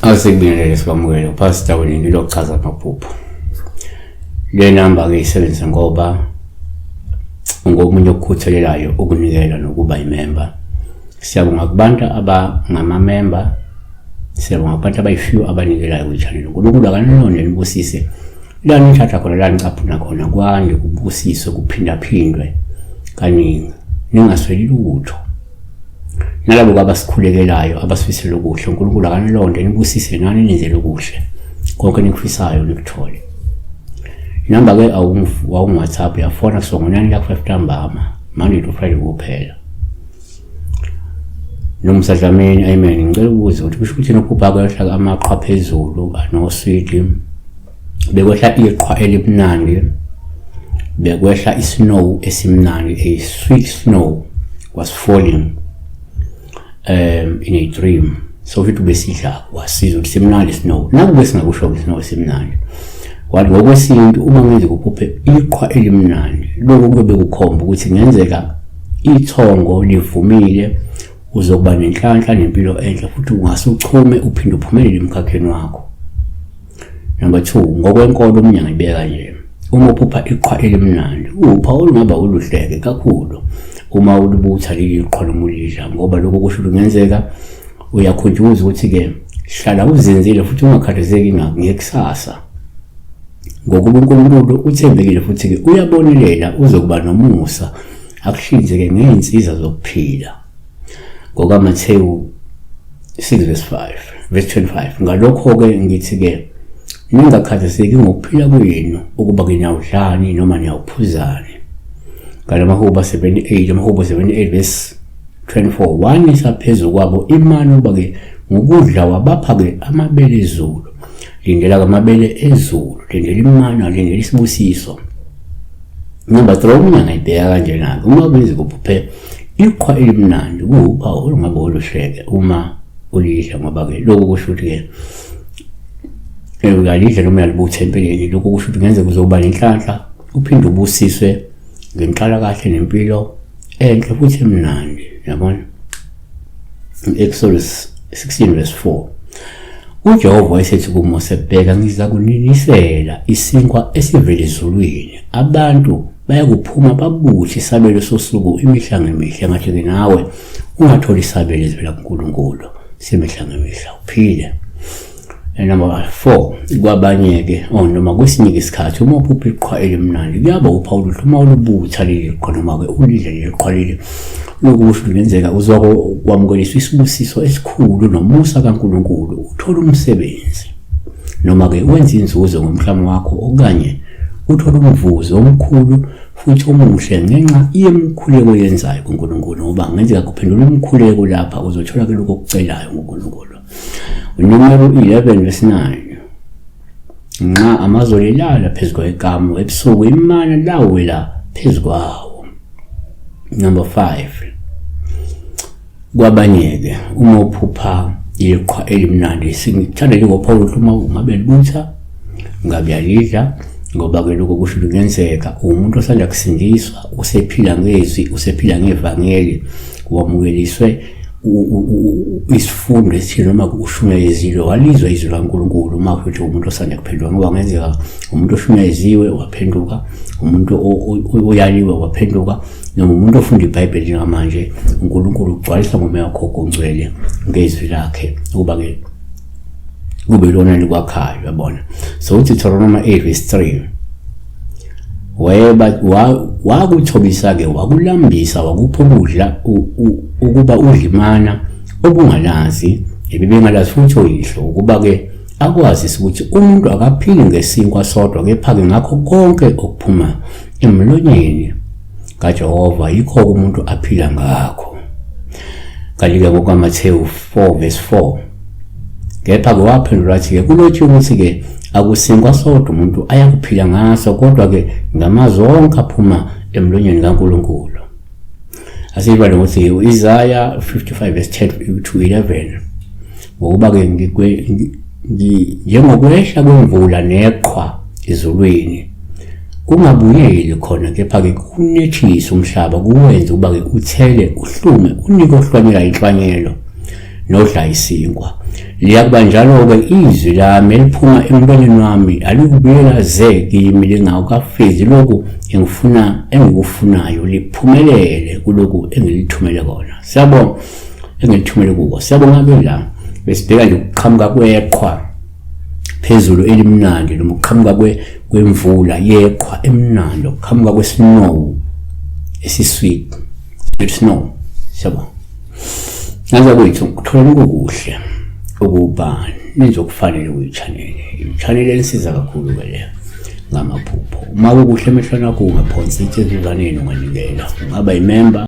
Asekubingelele sikwamukele uPastor wena into yokuchaza amaphupho. Le number ke isebenzisa ngoba ungomunye okukhuthalelayo ukunikela nokuba imember. Siyabonga kubantu abangama member Siyabonga abantu abayifew abanikelayo kwichannel. uNkulunkulu akanilonde nibusise la nithatha khona la nicaphuna khona kwande kubusiswe kuphindaphindwe kaningi ningasweli lutho nalabo babasikhulekelayo abasifisela okuhle uNkulunkulu akanilonde nibusise nani nenzele okuhle konke nikufisayo nikuthole inamba ke awungu-whatsapp yafona kusongonani lakho-five ntambama monday to friday kuphela Nomsa Dlamini, amen. Ngicela ukubuza ukuthi kusho ukuthi nophupha kwehla amaqhwa phezulu anoswidi. Bekwehla iqhwa elimnandi. Bekwehla isnow esimnandi, a sweet snow was falling um in a dream. So futhi besidla wasiza ukuthi simnandi snow. Nakube singakusho ukuthi snow simnandi. Wathi ngokwesintu uma ngize kuphuphe iqhwa elimnandi, lokho kube kukhomba ukuthi ngenzeka Ithongo livumile uzokuba nenhlanhla nempilo enhle futhi ungase uchume uphinde uphumelele emkhakheni wakho. Number 2 ngokwenkolo umnyanga ibeka nje uma uphupha iqhwa elimnandi upha olungaba uluhleke kakhulu uma ulibutha leli qhwa lomulidla ngoba lokho kusho kungenzeka uyakhunjuzwa ukuthi-ke hlala uzinzile futhi ungakhathazeki ngekusasa Ngokuba uNkulunkulu uthembekile futhi-ke uyabonelela uzokuba nomusa akuhlinzeke ngey'nsiza zokuphila. NgokaMathewu 6 verse 5 verse 25 ngalokho-ke ngithi-ke ningakhathazeki ngokuphila kwenu ukuba nginawudlani noma niyawuphuzani ngalamahubo 78 amahubo 78 verse 24 wanisa phezu kwabo imani ukuba-ke ngokudla wabapha-ke amabele ezulu lindela kamabele ezulu lindela imana lindela isibusiso number three omunye angayibheka kanjena-ke uma kwenza kuphuphe iqhwa elimnandi kuwuphawu olungabe oluhleke uma ulidla ngoba-ke lokhu kusho ukuthi-ke uyalidla noma uyalibutha empeleni lokhu kusho ukuthi ngenzeka uzoba nenhlanhla uphinde ubusiswe ngenhlalakahle nempilo enhle futhi emnandi yabona Exodus 16 verse 4 uJehova wayesethi kuMose bheka ngiza kuninisela isinkwa esivele ezulwini abantu bayakuphuma babuthi isabelo sosuku imihla ngemihla ngathi ke nawe ungatholi isabelo ezivela kuNkulunkulu semihla ngemihla uphile Number 4 kwabanye-ke or oh, noma kwesinye isikhathi uma uphupha iqhwa elimnandi kuyaba uphawula ukuthi uma ulubutha leli qhwa noma-ke ulidle leli qhwa leli lokusho kungenzeka uzokwamukeliswa isibusiso esikhulu nomusa kaNkulunkulu uthole umsebenzi noma-ke wenze inzuzo ngomhlaba wakho okanye uthole umvuzo omkhulu futhi omuhle ngenxa yemikhuleko yenzayo kuNkulunkulu ngoba ngenzeka kuphendula umkhuleko lapha uzothola ke lokho okucelayo ngoNkulunkulu Numero 11 verse 9 nxa amazolo elala phezu kwekamu ebusuku imana lawela phezu kwawo number 5 kwabanye-ke uma uphupha iqhwa elimnandi singithanda njengopawulo ukuthi uma ngabe libutha ngabe yalidla ngoba ke lokho kusho ukuthi kuyenzeka umuntu osanda kusindiswa usephila ngezwi usephila ngevangeli wamukeliswe isifundo esithile noma ushunyayezile walizwa izwi laNkulunkulu uma futhi umuntu osanda kuphenduka ngoba kungenzeka umuntu oshunyayeziwe waphenduka umuntu oyaliwe waphenduka noma umuntu ofunda ibhayibheli njengamanje unkulunkulu ugcwalisa ngomoya wakho kongcwele ngezwi lakhe ukuba-ke kube lona likwakhayo yabona so uDeuteronomy 8 verse 3 wayeba wakuthobisa ke wakulambisa wakupha ukudla ukuba udlimana obungalazi ebibengalazi futhi oyihlo ukuba ke akwazise ukuthi umuntu akaphili ngesinkwa sodwa kepha-ke ngakho konke okuphuma emlonyeni kaJehova yikho umuntu aphila ngakho kanti-ke ngokwamathewu 4 vesi 4 kepha-ke waphendula wathi-ke kulotshiwe ukuthi-ke akusinkwa sodwa umuntu ayakuphila ngaso kodwa-ke ngamazwi onke aphuma emlonyeni kankulunkulu asiyibale ukuthi u-isaya 55 vesi 10 to 11 ngokuba-ke njengokwehla kwemvula neqhwa ezulwini kungabuyeli khona kepha-ke kunethise umhlaba kuwenze ukuba-ke uthele uhlume unike ohlwanyela inhlwanyelo nodla isinkwa liyakuba njalo-ke izwi lami eliphuma emntwaneni wami alikubuyela ze kimi lingawukafezi lokhu engifuna engikufunayo liphumelele kulokhu engilithumele kona siyabona engilithumele kubo siyabonga ke la besibheka nje ukuqhamuka kweqhwa phezulu elimnandi noma ukuqhamuka kwemvula yeqhwa emnandi ukuqhamuka kwesnow esisweet sweet snow siyabonga naza kwethu kuthola ukukuhle ukuba nizokufanele uyi-channel i-channel elisiza kakhulu ke leyo ngamaphupho uma kukuhle emehlweni akho ungaphonsi itsizuzaneni unganikela ungaba yimemba